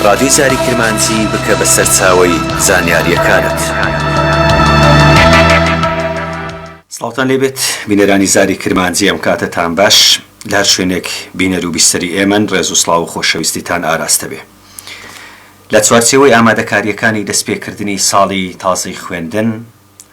ڕادیۆی زاری کرمانجی بکە بە سەرچاوەی زانیارییەکانت. سڵاوتان لێ بێت بینەرانی زاری کرمانجی ئەم کاتەتان باش لە هەر شوێنێک بینەر و بیسەری ئێمەن ڕێز و سڵاو و خۆشەویستیتان ئاراستە بێ لە چوارچێوەی ئامادەکارییەکانی دەست پێ کردنی ساڵی تازەی خوێندن،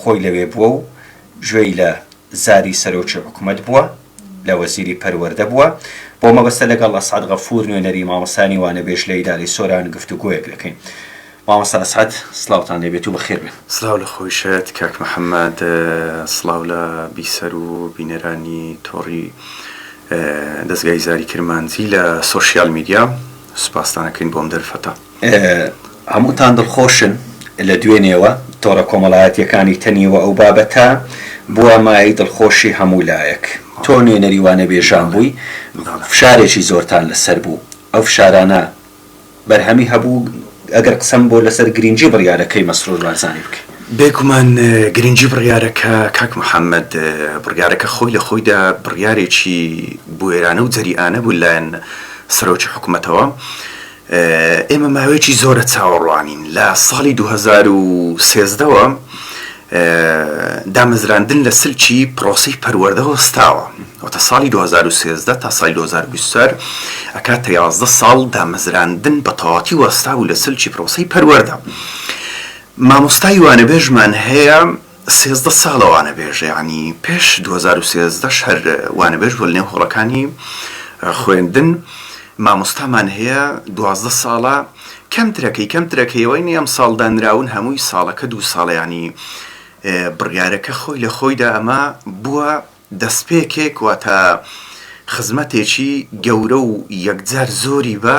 خۆی لەوێ بووە و گوێی لە زاری سەرۆکی حکومەت بووە، لە وەزیری پەروەردە بووە، بەو مەبەستە لەگەڵ ئەسعەد غەفوور نوێنەری مامۆستایانی وانەبێژ لە ئیدارەی سۆران گفتوگۆیەک دەکەین. مامۆستا ئەسعەد سڵاوتان لێ بێت و بەخێر بێن. سڵاو لە خۆیشت کاک محەمەد، سڵاو لە بیسەر و بینەرانی تۆڕی دەزگای زاری کرمانجی لە سۆشیال میدیا، سوپاستان ئەکەین بۆ ئەم دەرفەتە. هەمووتان دڵخۆشن لە دوێنێوە تۆڕە کۆمەڵایەتییەکانی تەنیوە ئەو بابەتە بووە مایەی دڵخۆشی هەموو لایەک تۆ نوێنەری وانەبێژان بووی فشارێکی زۆرتان لەسەر بوو ئەو فشارانە بەرهەمی هەبوو ئەگەر قسەم بۆ لەسەر گرینگی بڕیارەکەی مەسرور بارزانی بکەی. بێگومان گرینگی بڕیارەکە کاک محەمەد بڕیارەکە خۆی لە خۆیدا بڕیارێکی بوێرانە و جەریئانە بوو لەلایەن سەرۆکی حکومەتەوە، ئێمە ماوەیەکی زۆرە چاوەڕوانین، لە ساڵی دوو هەزار و سێزدە وە دامەزراندن لە سلکی پرۆسەی پەروەردە وەستاوە، واتە ساڵی دوو هەزار و سێزدە تا ساڵی دوو هەزار و بیست و چوار ئەکاتە یازدە ساڵ دامەزراندن بە تەواوەتی وەستابوو لە سلکی پرۆسەی پەروەردە، مامۆستای وانەبێژمان هەیە، سێزدە ساڵە وانەبێژە یانی پێش دوو هەزار و سێزدە ش هەر وانەبێژ بوە لەنێو هۆڵەکانی خوێندن مامۆستامان هەیە دوازدە ساڵە کەمترەکەی کەمترەکەی ئەوەی نەی ئەمساڵ دانراون هەمووی ساڵەکە دوو ساڵە یانی بڕیارەکە خۆی لە خۆیدا ئەمە بوە دەستپێکێک واتە خزمەتێکی گەورە و یەکجار زۆری بە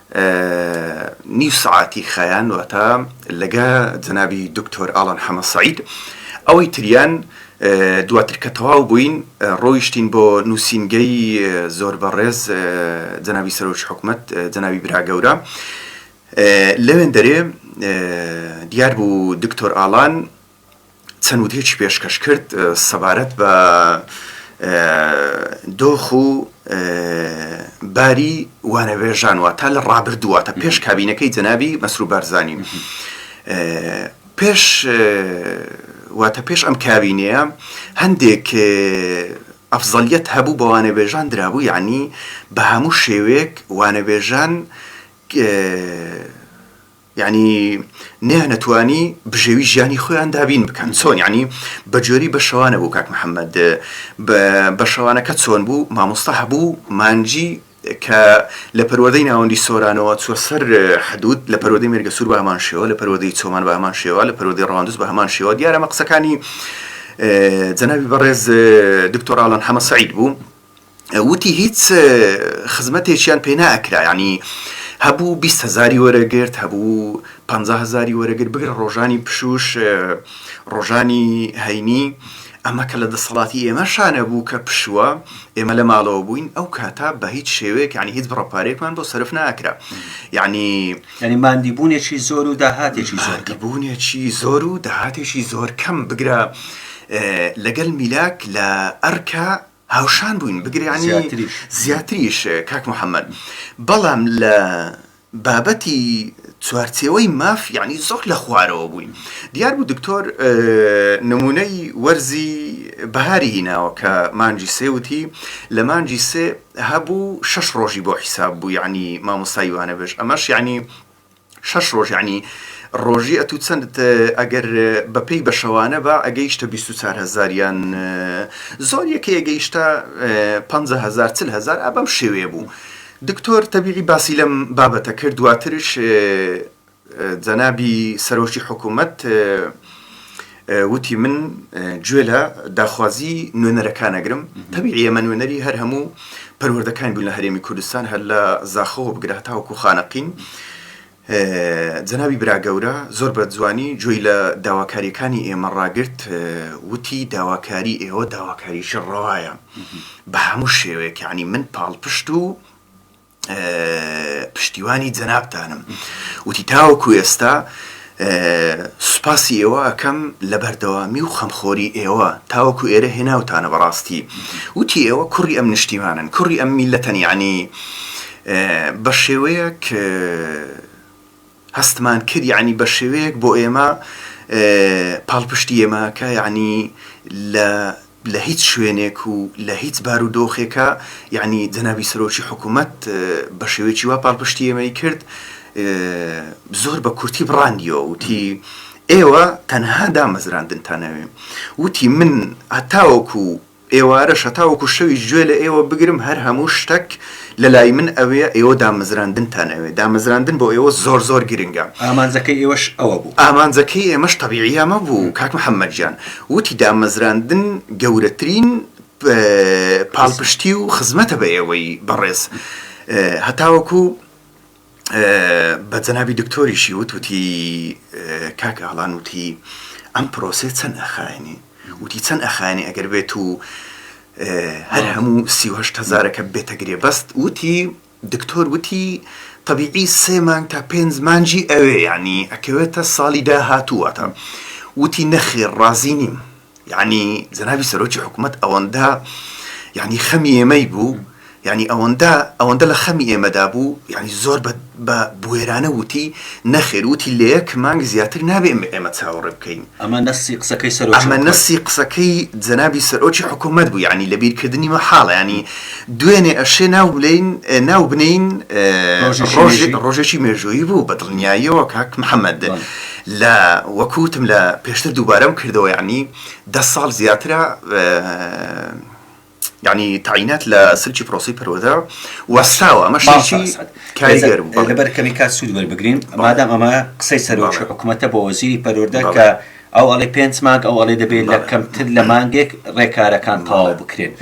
نیو سەعاتی خایان واتە لەگە جەنابی دکتۆر ئالان حەمە سەعید ئەوەی تریان دواتر کە تەواو بووین ڕۆیشتین بۆ نووسینگەی زۆر بەڕێز جەنابی سەرۆکی حکومت جەنابی براگەورە لەوێن دەرێ دیار بوو دکتۆر ئالان چەند وتەیەکی پێشکەش کرد سەبارەت بە دۆخ و باری وانەبێژان واتە لە ڕابردوو واتە پێش کابینەکەی جەنابی مەسرور بارزانی پێش واتە پێش ئەم کابینەیە هەندێک ئەفزەلیت هەبوو بە وانەبێژان درابوو یعنی بە هەموو شێوەیەک وانەبێژان یانی نەیانەتوانی بژێوی ژیانی خۆیان دابین بکەن چۆن یانی بەجۆری بە شەوانە بوو کاک محەممەد بە شەوانەکە چۆن بوو مامۆستا هەبوو مانجی کە لە پەروەدەی ناوەندی سۆرانەوە چوە سەر حدود لە پەروەدەی مێرگە سوور بە هەمان شێوە لە پەروەدەی چۆمان بە هەمان شێوە لە پەروەدەی ڕەواندز بە هەمان شێوە دیارە مە قسەکانی جەنابی بەڕێز دکتۆر ئالان حەمە سعید بوو وتی هیچ خزمەتێکیان پێ ناکرا یعنی هەبوو بیست هەزاری وەرەگرت هەبوو پ هەزاری وەرەگر بگرە ڕۆژانی پشوش ڕۆژانی هەینی ئەمە کە لە دەسەڵاتی ئێمە شانە بوو کە پشووە ئێمە لە ماڵەوە بووین ئەو کاتا بە هیچ شێوەیەک ینی هیچ بڕەپارێکمان بۆ سرف ناکرا ینی ینی مادی بوونێکی زۆر و داهاتێکی زۆر بوونێکی زۆر و داهاتێکی زۆر کەم بگرە لەگەل میلاک لە ئەرکە هاوشان بووین بگریانی زیاتریش کاک محەممەد بەڵام لە بابەتی چوارچێوەی ماف یعنی زۆر لە خوارەوە بووین دیار بوو دکتۆر نمونەی وەرزی بەهاری هیناوە کە مانجی سێوتی لە مانجی سێ هەبوو شەش ڕۆژی بۆ حیساب بوو یعنی مامۆسایوانە بێژ ئەمەش یعنی شەش ڕۆژ یانی ڕۆژی ئەتوو چەندت ئەگەر بەپێی بەشەوانە بە ئەگەیشتە 24 هزار یان زۆر یەکەیە گەیشتە 5هزار چل هزار ئابەم شێوێ بوو دکتۆر تەبیعی باسی لەم بابەتە کرد دواترش جەنابی سەرۆکی حکوومەت وتی، من گوێ لە داخوازی نوێنەرەکان ئەگرم، تەبیعییە ئێمە نوێنەری هەر هەموو پەروەردەکان بووین لە هەرێمی کوردستان، هەر لە زاخۆوە بگرە هەتاوەکو خانەقین. جەنابی براگەورە زۆر بە جوانی گوێی لە داواکارییەکانی ئێمە ڕاگرت، وتی، داواکاری ئێوە داواکارییەکی ڕەوایە بە هەموو شێوەیەک، یانی من پاڵپشت و، پشتیوانی جەنابتانم وتی تاوەکو ئێستا سوپاسی ئێوە ئەکەم لە بەردەوامی و خەمخۆری ئێوە تاوەکو ئێرە هێناوتانە بەڕاستی وتی ئێوە کوڕی ئەم نیشتیمانن کوڕی ئەم میلەتەن یعنی بە شێوەیەک هەستمان کرد یەعنی بە شێوەیەک بۆ ئێمە پاڵپشتی ئێمە کە یەعنی لە لە هیچ شوێنێک و لە هیچ بار و دۆخێکا یەعنی جەنابی سەرۆکی حکوومەت بە شێوەیەکی وا پاڵپشتی ئێمەی کرد زۆر بە کورتی بڕاندیەوە وتی ئێوە تەنها دامەزراندنتانەوێ وتی من هەتاوەکو ئێوارەش هەتاوەکو شەویش گوێ لە ئێوە بگرم هەر هەموو شتەک لە لای من ئەوێ ئێوە دامەزراندنتان ئەوێ دامەزراندن بۆ ئێوە زۆر زۆر گرنگە. ئامانجەکەی ئێوەش ئەوە بوو. ئامانجەکەی ئێمەش تەبیعی ئەمە بوو کاک محەمەد گیان وتی دامەزراندن گەورەترین پاڵپشتی و خزمەتە بە ئێوەی بەڕێز هەتاوەکو. بە جەنابی دکتۆریشی وت وتی کاک ئالان وتی ئەم پرۆسێ چەند ئەخایێنێ وتی چەند ئەخایێنێ ئەگەر بێت و هەر هەموو سیهشت هزارەکە بێتە گرێ بەست وتی دکتۆر وتی طبیعی سێ مانگ تا پێنج مانجی ئەوێ یعنی ئەکەوێتە ساڵی داهاتووەتە وتی نەخێر ڕازی نیم یەعنی جەنابی سەرۆکی حکومەت ئەوەندە یەعنی خەمی ئێمەی بوو یەعنی ئەوەندە ئەوەندە لە خەمی ئێمەدا بوو یەعنی زۆر بە بوێرانە وتی نەخێر وتی لە یەک مانگ زیاتر نابێ ئێمە چاوەڕێ بکەین ئەمە نەسی قسەکەی سەرۆکی ئەمە نەسی قسەکەی جەنابی سەرۆکی حکومەت بوو یەعنی لە بیرکردنی مەحاڵە یەعنی دوێنێ ئەشێ ناو بلین ناو بنین ڕۆژێکی مێژوویی بوو بە دڵنیاییەوە کاک محەممەد لە وەکو وتم لە پێشتر دووبارەم کردەوە یەعنی دە ساڵ زیاترە یعنی تاینات لە سلکی پرۆسی پەروەدا وەستاوە ئەمە شێکی کاریگەر بوو لەبەر کەمی کات سوود وەربگرین مادام ئەمە قسەی سەرۆکی حکوومەتە بۆ وەزیری پەروەدا کە ئەو ئەڵێ پێنج مانگ ئەو ئەڵێ دەبێت لە کەمتر لە مانگێک ڕێکارەکان تەواو بکرێت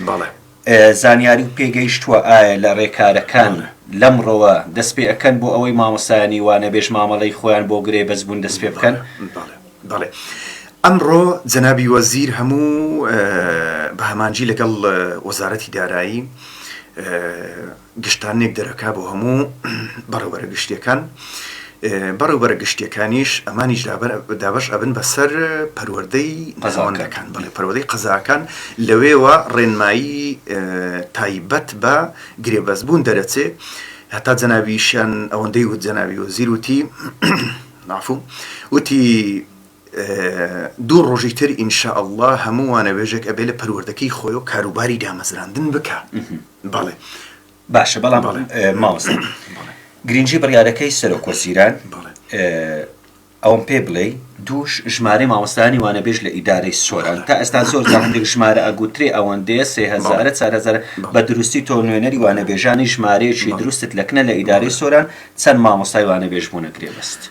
زانیاری و پێگەیشتوە ئایا لە رێکارەکان لەمڕۆوە دەست پێ ئەکەن بۆ ئەوەی مامۆستایانی وانەبێژ مامەڵەی خۆیان بۆ گرێ بەست بوون دەست پێ بکەن؟ بەڵێ ئەمڕۆ جەنابی وەزیر هەموو بە هەمانجی لەگەڵ وەزارەتی دارایی گشتاننێک دەرەکا بۆ هەموو بەڕێوبەرە گشتییەکان، بەڕێوبەرە گشتییەکانیش ئەمانیش دابەش ئەبن بە سەر پەروەردەی ناوەندەکان، بەڵێ پەروەدەی قەزاکان، لەوێوە ڕێنمایی تایبەت بە گرێبەستبوون دەرەچێ، هەتا جەنابیشیان ئەوەندەی وت جەنابی وەزیر وتی، مافوو، وتی دوو ڕۆژی تر ان شاء اللە هەموو وانەوێژێک ئەبێ لە پەروەردەکەی خۆیەوە کاروباری دامەزراندن بکا، بەڵێ باشە بەڵام مامۆستا گرنگی بڕیارەکەی سەرۆک وەزیران ئەوم پێ بڵێ دووش ژمارەی مامۆستانی وانەبێژ لە ئیدارەی سۆران تا ئێستا زۆر هەندێک ژمارە ئەگوترێ ئەوەندەیە سێهزارە چارهزار بە دروستی تۆ نوێنەری وانەبێژانی ژمارەیەکی دروستت لەکنە لە ئیدارەی سۆران چەند مامۆستای وانەبێژ بوونە گرێبەست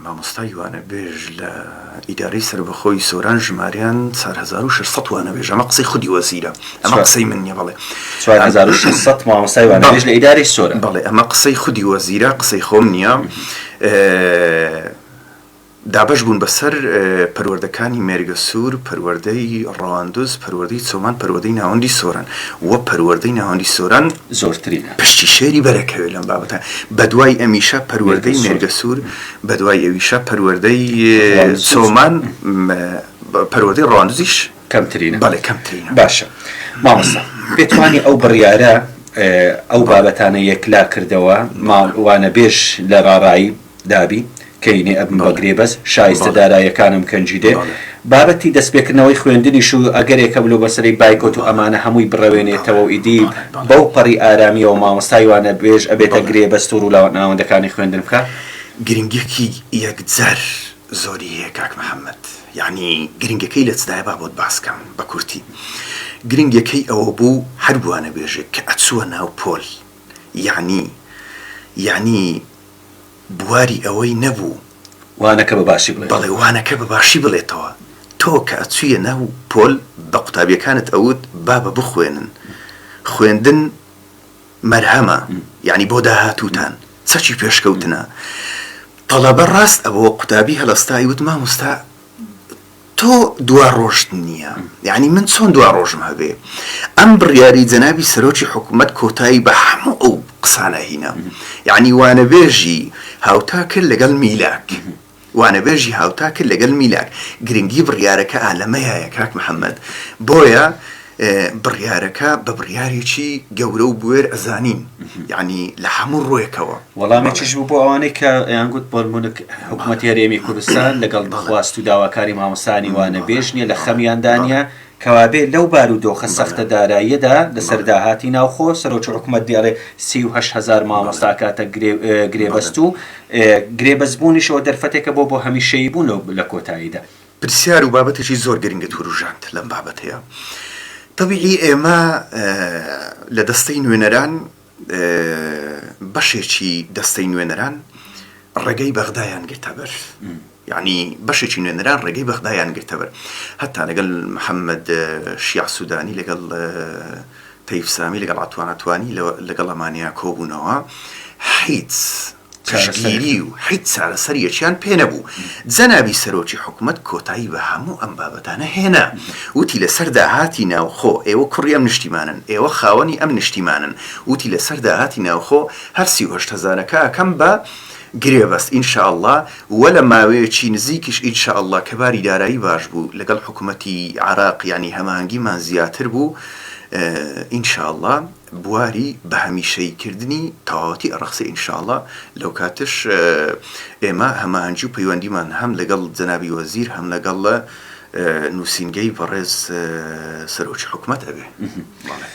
مامۆستای وانەبێژ لە ئیدارەی سەربەخۆی سۆران ژماریان چار هەزار و شەش سەد وانەبێژ ئەمە قسەی خودی وەزیرە ئەمە قسەی من نیە بەڵێ چوار هەزار و شەش سەد مامۆستای وانەبێژ لە ئیدارەی سۆران بەڵێ ئەمە قسەی خودی وەزیرە قسەی خۆم نیە دابەش بوون بەسەر پەروەردەکانی مێرگەسوور پەروەردەی ڕەواندز پەروەردەی چۆمان پەروەدەی ناوەندی سۆران وە پەروەردەی ناوەندی سۆران زۆرترین پشتی شێری بەرەکەوێ لەم بابەتە بەدوای ئەمیشە پەروەردەی مێرگە سوور بەدوای ئەویشە پەروەردەی سۆمان پەروەردەی ڕواندزیش کەمترینە بەڵێ کەمترینە باشە مامۆستا پێتوانی ئەو بڕیارە ئەو بابەتانە یەکلا کردەوە ماڵوانە بێژ لە ڕاڕایی دابی کەینێ ئەبم بە گرێبەس شایستە دارایەکانم کەنجیدێ بابەتی دەستپێکردنەوەی خوێندنیش و ئەگەرێک هەبو لەو بەسەرەی بایکۆت و ئەمانە هەموی بڕەوێنێتەوەو ئیدی بەو پەڕی ئارامیەوە مامۆستای وانەبێژ ئەبێتە گرێبەست و رولاناوەندەکانی خوێندن بکا. گرنگیەکی یەکجار زۆری هەیە کاک محمد یەعنی گرنگەکەی لە چدایە با بۆت باس کەم بە کورتی گرنگەکەی ئەوە بو هەر وانەبێژێک کە ئەچوە ناو پۆل یەعنی یەعنی بواری ئەوەی نەبوو وانەکە بە باشی بڵێتەوە. بەڵێ وانەکە بە باشی بڵێتەوە. تۆ کە ئەچوویە ناو پۆل بە قوتابیەکانت ئەوت بابە بخوێنن. خوێندن مەرهەمە یانی بۆ داهاتووتان چەکی پێشکەوتنە. تەڵەبە ڕاست ئەبۆوە قوتابی هەلەستا ئەیوت مامۆستا. تۆ دوا ڕۆژت نییە، یانی من چۆن دوا ڕۆژم هەبێ؟ ئەم بڕیاری جەنابی سەرۆکی حکومەت کۆتایی بە هەموو ئەو قسانە هینا. یانی وانەبێژی هاوتا کرد لەگەڵ میلاک. وانەبێژی هاوتا کرد لەگەڵ میلاک. گرنگی بڕیارەکەئ لەمەیایە کاک محەمەد. بۆیە. بڕیارەکە بە بڕیارێکی گەورە و بوێر ئەزانین یعنی لە هەموو ڕوێکەوە وەڵامێکیش بوو بۆ ئەوانەی کە یانگووت بۆلمونک حکوومەت هەرێمی کوردستان لەگەڵ بەخواست و داواکاری مامۆسانی وانە بێژ نیە لە خەمیاندانە کەوابێ لەو بار و دۆخە سەختە داراییەدا لەسەر داهاتی ناوخۆ سەرۆکی حکوومەت دێڵێ سی و هەشت هەزار مامۆستا ئەکاتە گرێبەست و گرێبەستبوونیش ئەوە دەرفەتێکە بۆ بۆ هەمیشەیی بوون لە کۆتاییدا. پرسیار و بابەتێکی زۆر گرنگت وروژاند لەم بابەتەیا. تەبیعی ئێمە لە دەستەی نوێنەران بەشێکی دەستەی نوێنەران ڕێگەی بەغدایان گرتە بەر. یعنی بەشێکی نوێنەران ڕێگەی بەغدایان گرتە بەر. هەتا لەگەڵ محەممەد شیاع سوودانی، لەگەڵ تەیف سامی، لەگەڵ عەتوان عەتوانی لەگەڵ ئەمانیا کۆبوونەوە، حیچ. پشتگیری و هیچ چارەسەریەکیان پێ نەبوو، جەنابی سەرۆکی حکومەت کۆتایی بە هەموو ئەم بابەتانە هێنا، وتی لەسەر داهاتی ناوخۆ، ئێوە کوڕی ئەم نیشتیمانەن، ئێوە خاوەنی ئەم نیشتیمانەن، وتی لەسەر داهاتی ناوخۆ هەر سی و هەشت هەزارەکە ئەکەم بە گرێبەست ئین شا اللە و لە ماوەیەکی نزیکیش ئین شا اللە کە باری دارایی باش بوو لەگەڵ حکومەتی عێراق یانی هەماهەنگیمان زیاتر بوو ئین شا اللە بواری بە هەمیشەیی کردنی تەواوەتی ئەڕەخسێ ان شاء اللە لەوکاتەش ئێمە هەماهەنگی و پەیوەندیمان هەم لەگەڵ جەنابی وەزیر هەم لەگەڵ نوسینگەی بەڕێز سەرۆکی حکومەت ئەبێ بەڵێ.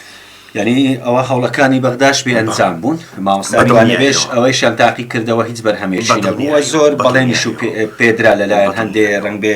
یانی ئەوە هەوڵەکانی بەغداش بێ ئەنجام بوون مامۆستا میوانەوێژ ئەوەیشیان تاقی کردەوە هیچ بەرهەمێکی نەبووە زۆر بەڵێنیش پێدرا لەلایەن هەندێ ڕەنگ بێ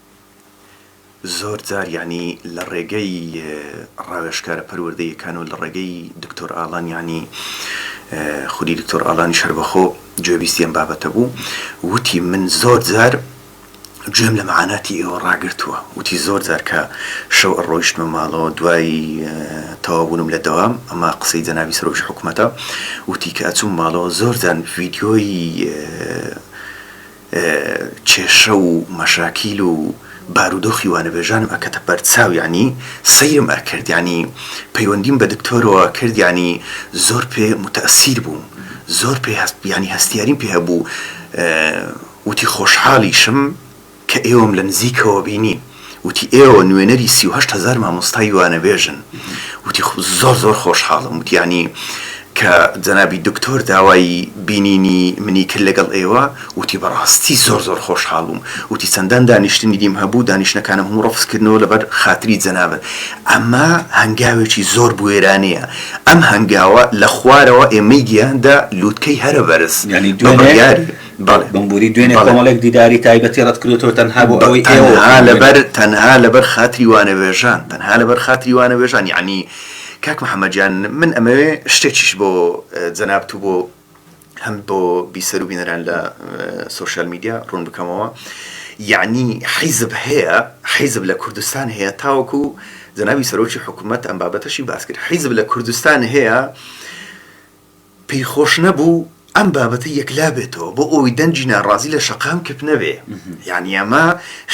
زۆر جار یانی لە ڕێگەی ڕاوێژکارە پەروەردەیەکان و لە ڕێگەی دکتۆر ئالان یانی خودی دکتۆر ئالانیش هەر بەخۆ گوێبیستی ئەم بابەتە بوو وتی من زۆر جار گوێم لە مەعاناتی ئێوە ڕاگرتووە وتی زۆر جار کە شەو ئەڕۆیشتمە ماڵەوە دوای تەواوبوونم لە دەوام ئەمە قسەی جەنابی سەرۆکی حکومەتە وتی کە ئەچووم ماڵەوە زۆر جار ڤیدیۆی کێشە و مەشاکیل و بارودۆخی وانەبێژانم ئەکەتە بەر چاو یانی سەیرم ئەکرد یانی پەیوەندیم بە دکتۆرەوە کرد یانی زۆر پێ موتەئسیر بووم زۆر پێ هەست یانی هەستیاریم پێ هەبوو وتی خۆشحالیشم کە ئێوەم لە نزیکەوە بینیم. وتی ئێوە نوێنەری سی و هەشت هەزار مامۆستای وانەبێژن وتی زۆر زۆر خۆشحاڵم وتی یانی کە جەنابی دکتۆر داوای بینینی منی کرد لەگەڵ ئێوە وتی بەڕاستی زۆر زۆر خۆشحاڵ بووم وتی چەندان دانیشتنی دیم هەبوو دانیشتنەکانم هەموو ڕەفز کردنەوە لەبەر خاتری جەنابت ئەمە هەنگاوێکی زۆر بوێرانەیە ئەم هەنگاوە لە خوارەوە ئێمەی گەیاندە لووتکەی هەرە بەرز یانی دوو بڕیاری بەڵێ. بمبوری دوێنێ کۆمەڵێک دیداری تایبەتی ڕەتکردۆتەوە تەنها بۆ ئەوەی ئێوە تەنها لەبەر تەنها لەبەر خاتری وانەوێژان تەنها لەبەر خاتری وانەوێژان یەعنی کاک محمد گیان من ئەمەوێ شتێکیش بۆ جەنابت و بۆ هەم بۆ بیسەر و بینەران لە سۆشیال میدیا ڕوون بکەمەوە یەعنی حیزب هەیە حیزب لە کوردستان هەیە تاوەکو جەنابی سەرۆکی حکوومەت ئەم بابەتەشی باس کرد حیزب لە کوردستان هەیە پێی خۆش نەبوو ئەم بابەتە یەکلا بێتەوە بۆ ئەوەی دەنگی ناڕازی لە شەقام کپ نەبێ یانی ئەمە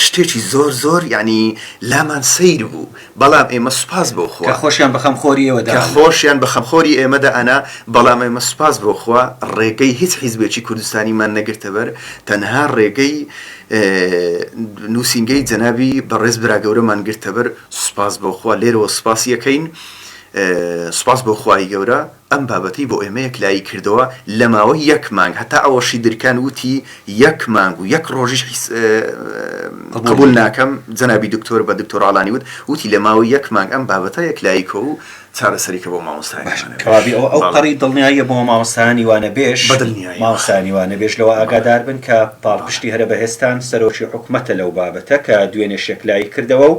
شتێکی زۆر زۆر یانی لامان سەیر بوو بەڵام ئێمە سوپاس بۆ خوا خۆشیان بە خەمخۆری ئێوە دا خۆشیان بە خەمخۆری ئێمە دا ئەنا بەڵام ئێمە سوپاس بۆ خوا ڕێگەی هیچ حیزبێکی کوردستانیمان نەگرتە بەر تەنها ڕێگەی نووسینگەی جەنابی بەڕێز برا گەورەمان گرتە بەر سوپاس بۆ خوا لێرەوە سوپاسی یەکەین سوپاس بۆ خوای گەورە ئەم بابەتەی بۆ ئێمە یەکلایی کردەوە لە ماوەی یەک مانگ، هەتا ئەوەشی درکاند وتی یەک مانگ و یەک ڕۆژیش قبووڵ ناکەم، جەنابی دکتۆر بە دکتۆر ئالانی وت، وتی لە ماوەی یەک مانگ ئەم بابەتە یەکلایی کە و چارەسەری کە بۆ مامۆستایانی وانەبێژ. باشە کەوابی ئەوە ئەو قەڕی دڵنیاییە بۆ مامۆستایانی وانەبێژ؟ بە دڵنیایی. مامۆستایانی وانەبێژ لەوە ئاگادار بن کە پاڵپشتی هەرە بەهێزتان سەرۆکی حکومەتە لەو بابەتە کە دوێنێش یەکلایی کردەوە و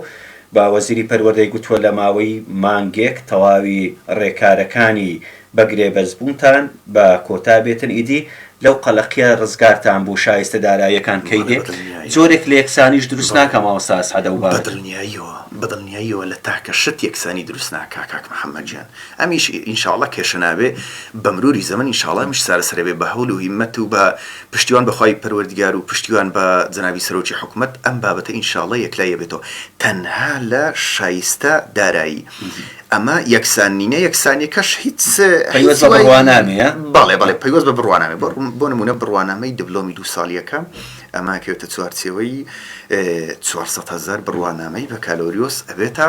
بە وەزیری پەروەردەی گوتووە لە ماوەی مانگێک تەواوی رێکارەکانی بە گرێبەست بوونتان بە کۆتا بێتن ئیدی لەو قەلەقیە رزگارتان بوو شایستە داراییەکان کەی دێ جۆرێک لە یەکسانیش دروست ناکا مامۆستا ئەسعەد ئەو بارە. بەدڵنیاییەوە بەدڵنیاییەوە لە تاکە شت یەکسانی دروست ناکا کاک محمد گیان ئەمیش ئینشاڵڵا کێشە نابێ بەمروری زەمەن ئینشاڵڵا ئەمیش چارەسەرەبێ بە هەول و هیمەت و بە پشتیوان بە خوای پەروەردگار و پشتیوان بە جەنابی سەرۆکی حکومەت ئەم بابەتە ان شاءاللە یەکلایی ئەبێتەوە تەنها لە شایستە دارایی ئەمە یەکسان نینە یەکسانیەکەش هیچ پەیوەست بە بڕوانامەیە بەڵێ بەڵێ پەیوەست بە بڕوانامەیە بۆ بۆ نمونە بڕوانامەی دبلۆمی دوو ساڵیەکە ئەمە کەوێتە چوارچێوەی چوار سەد هەزار بڕوانامەی بەکالۆریۆس ئەبێتە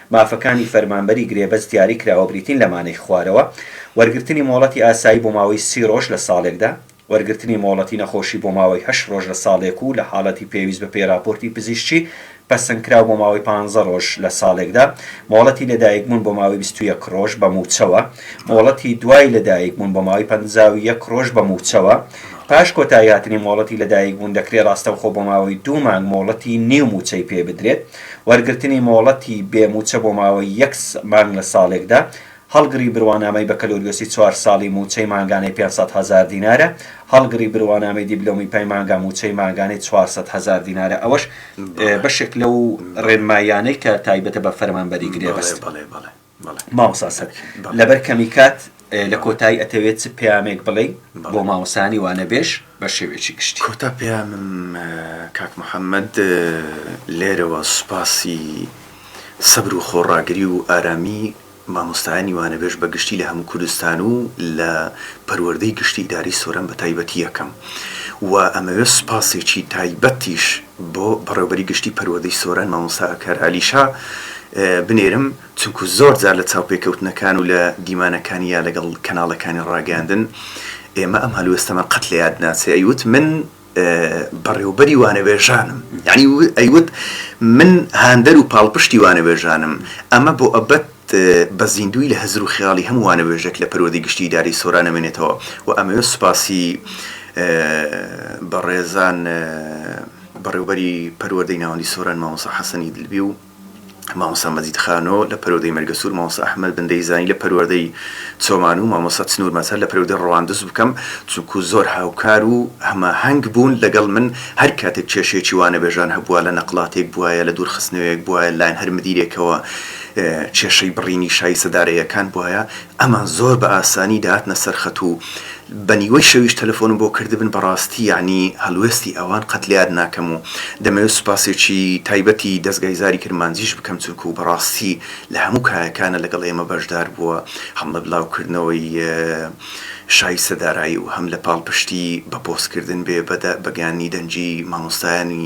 مافەکانی فەرمانبەری گرێبەست دیاری کراوە بریتین لە مانەی خوارەوە، وەرگرتنی مۆڵەتی ئاسایی بۆ ماوەی سی ڕۆژ لە ساڵێکدا، وەرگرتنی مۆڵەتی نەخۆشی بۆ ماوەی هەشت ڕۆژ لە ساڵێک و لە حاڵەتی پێویست بە پێی ڕاپۆرتی پزیشکی پەسەندکراو بۆ ماوەی پانزە ڕۆژ لە ساڵێکدا، مۆڵەتی لەدایکبوون بۆ ماوەی بیست و یەک ڕۆژ بە مووچەوە، مۆڵەتی دوای لەدایکبوون بۆ ماوەی پەنجا و یەک ڕۆژ بە مووچەوە، پاش کۆتاییهاتنی مۆڵەتی لەدایکبوون دەکرێت ڕاستەوخۆ بۆ ماوەی دوو مانگ مۆڵەتی نیو مووچەی پێ بدرێت. وەرگرتنی مۆڵەتی بێ مووچە بۆ ماوەی یەک مانگ لە ساڵێکدا، هەڵگری بروانامەی بەکەلۆریۆسی چوار ساڵی مووچەی مانگانەی پێنج سەد هەزار دینارە، هەڵگری بروانامەی دیبلۆمی پەی مانگا مووچەی مانگانەی چوار سەد هەزار دینارە ئەوەش بەشێک لەو ڕێنماییانەی کە تایبەتە بە فەرمانبەری گرێبەست. مامۆستا سەبی لەبەر کەمی کات لە کۆتایی ئەتەوێت چ پەیامێک بڵێی بۆ مامۆستایانی وانەبێژ بە شێوەیەکی گشتی؟ کۆتا پەیامم کاک محەممەد لێرەوە سوپاسی سەبر و خۆڕاگری و ئارامی مامۆستایانی وانەبێژ بە گشتی لە هەموو کوردستان و لە پەروەردەی گشتی ئیدارەی سۆران بە تایبەتی ئەکەم و ئەمەوێت سوپاسێکی تایبەتیش بۆ بەڕێوبەری گشتی پەروەردەی سۆران مامۆستا ئاکار عەلی شا بنێرم چونکو زۆر جار لە چاوپێکەوتنەکان و لە دیمانەکانی یا لەگەڵ کەناڵەکانی ڕاگەیاندن ئێمە ئەم هەلوێستەمان قەت لە یاد ناچێ ئەیوت من بەڕێوبەری وانەبێژانم یانی ئەیوت من هاندەر و پاڵپشتی وانەبێژانم ئەمە بۆ ئەبەت بە زیندووی لە هزر و خیاڵی هەموو وانەبێژێک لە پەروەردەی گشتی ئیدارەی سۆران ئەمێنێتەوە و ئەمەوێت سوپاسی بەڕێزان بەڕێوبەری پەروەردەی ناوەندی سۆران مامۆسا حەسەنی دلبی و مامۆسا مەجید خانۆ لە پەروەردەی مەرگەسوور مامۆسا ئەحمەد بندەی زانی لە پەروەردەی چۆمان و مامۆسا چنوور مەزهەر لە پەروەردەی ڕەواندز بکەم چونکوو زۆر هاوکار و هەماهەنگ بوون لەگەڵ من هەر کاتێک کێشەیەکی وانەبێژان هەبووە لە نەقڵاتێک بوایە لە دوورخستنەوەیەک بوایە لەلایەن هەر مدیرێکەوە کێشەی بڕینی شای سەدارەیەکان بوایە ئەمان زۆر بە ئاسانی دەهاتنە سەر خەت و بە نیوەی شەویش تەلەفۆنم بۆ کردبن بەڕاستی یەعنی هەڵوێستی ئەوان قەت لەیاد ناکەم و دەمەوێت سوپاسێکی تایبەتی دەزگای زاری کرمانجیش بکەم چونکوو بەڕاستی لە هەموو کایەکانە لەگەڵ ئێمە بەشدار بووە هەم لە بلاو کردنەوەی شای سەدارایی و هەم لە پاڵپشتی بە پۆست کردن بێ بە گەیاندنی دەنگی مامۆستایانی